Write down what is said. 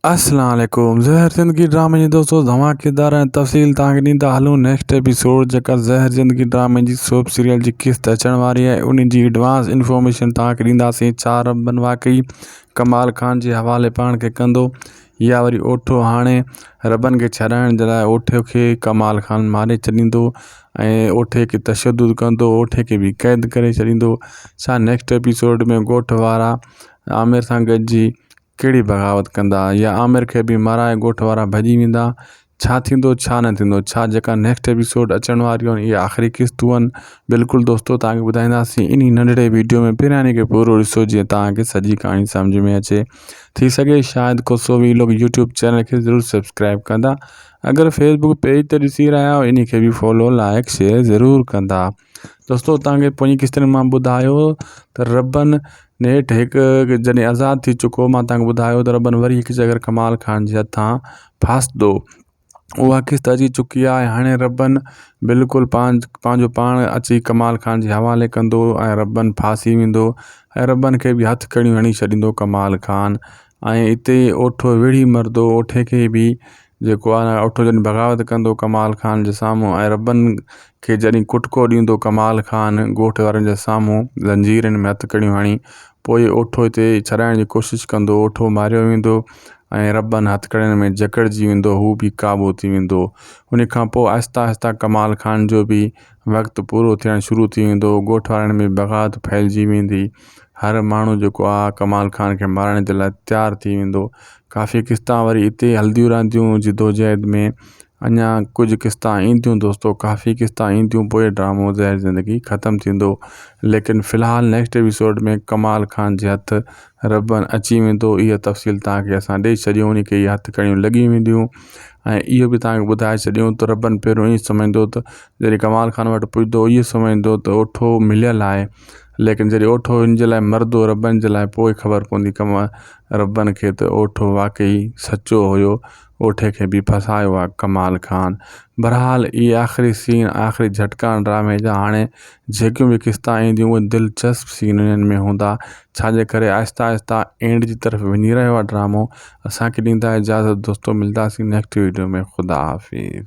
اسلام عليڪم زهر زندگي ڊرامي جي دوستو اوهان ڪردار ۽ تفصيل توهان کي ڏيندا هلون نيڪسٽ ايپيسوڊ جيڪا زهر زندگي ڊرامي جي سوپ سيريل جي قسط اچڻ واري آهي ان جي ايڊوانس انفارميشن توهان کي ڏينداسين ڇا رنبن واقعي ڪمال خان جي حوالي پاڻ کي ڪندو يا وري اوٺو هاڻي ربن کي ڇڏائڻ جي لاء اوٺي کي ڪمال خان ماري ڇڏيندو ۽ اوٺي کي تشدد ڪندو اوٺي کي بي قيد ڪري ڇڏيندو ڇا نيڪسٽ ايپيسوڊ ۾ ڳوٺ وارا عامر سان گڏجي ڪهڙي بغاوت ڪندا يا عامر کي به مارائي ڳوٺ وارا ڀڄي ويندا ڇا ٿيندو ڇا نه ٿيندو ڇا جيڪا نيڪسٽ ايپيسوڊ اچڻ واريون آهن اهي آخري قسطون آهن بلڪل دوستو توهان کي ٻڌائينداسين انهي ننڍڙي ويڊيو ۾ پهرياني کي پورو ڏسو جيئن توهان کي سڄي ڪهاڻي سمجهه ۾ اچي ٿي سگهي شايد ڪوسو وي لوگ يوٽيوب چينل کي ضرور سبسڪرائب ڪندا اگر فيسبوڪ پيج تي ڏسي رهيا آهيو انهي کي به فالو لائڪ شيئر ضرور ڪندا دوستو تانکي پوئين قسطن مان ٻڌايو ته ربن نيٺ هڪ جڏهن آزاد ٿي چڪو مان تانکي ٻڌايو ته ربن وري هڪ جگر ڪمال خان جي هٿان ڦاسدو اها قسط اچي چڪي آهي هاڻي ربن بلڪل پان پنهنجو پاڻ اچي ڪمال خان جي حوالي ڪندو ۽ ربن ڦاسي ويندو ۽ ربن کي به هٿ ڪڙيون هڻي ڇڏيندو ڪمال خان ۽ اتي اوٺو ويڙهي مردو اوٺي کي به جيڪو آن اٺو جڏھن بغاوت ڪندو ڪمال خان جي سامھون ۽ ربن کي جڏھن ڪٽڪو ڏيندو ڪمال خان ڳوٺ وارن جي سامھون زنجيرن ۾ ھٿڪڙيون ھڻي پوء اٺو ھتي ڇڏائڻ جي ڪوشش ڪندو اٺو ماريو ويندو ۽ ربن ھٿڪڙين ۾ جڪڙجي ويندو ھو بي قابو ٿي ويندو انھي کان پوء آھستي آھستي ڪمال خان جو بي وقت پورو ٿيڻ شروع ٿي ويندو ڳوٺ وارن ۾ بغاوت ڦهلجي ويندي هر ماڻهو جيڪو آهي ڪمال خان کي مارڻ جي لاء تيار ٿي ويندو ڪافي قسطا وري هتي هلنديون رهنديون جدوجهد ۾ اڃا ڪجهه قسطا اينديون دوستو ڪافي قسطا اينديون پوء ڊرامو زهر زندگي ختم ٿيندو ليڪن فلحال نيڪسٽ ايپيسوڊ ۾ ڪمال خان جي هٿ ربن اچي ويندو اها تفصيل تانکي اسان ڏئي ڇڏيون انهي کي اها هٿڪڙيون لڳي وينديون ۽ اهو به تانکي ٻڌائي ڇڏيون ته ربن پهريون ائين سمجهندو ته جڏهن ڪمال خان وٽ پڄندو هو اهو سمجهندو ته اوٺو مليل آهي ليڪن جڏهن اوٺو ان جي لاء مردو ربن جي لاء پوء خبر پوندي ڪم ربن کي ته اوٺو واقعي سچو هيو اوٺي کي به ڦاسايو آ ڪمال خان. بھرحال اھي آخري سين آخري جھٽڪا ڊرامي جا ھاڻي جيڪيون به قسطا اينديون اھي دلچسپ سين انھن ۾ ھوندا ڇا جي ڪري آھستي آھستي اينڊ جي طرف وڃي رھيو آ ڊرامو اسان کي ڏيندا اجازت دوستو ملداسين نيڪسٽ ويڊيو ۾ خدا حافظ.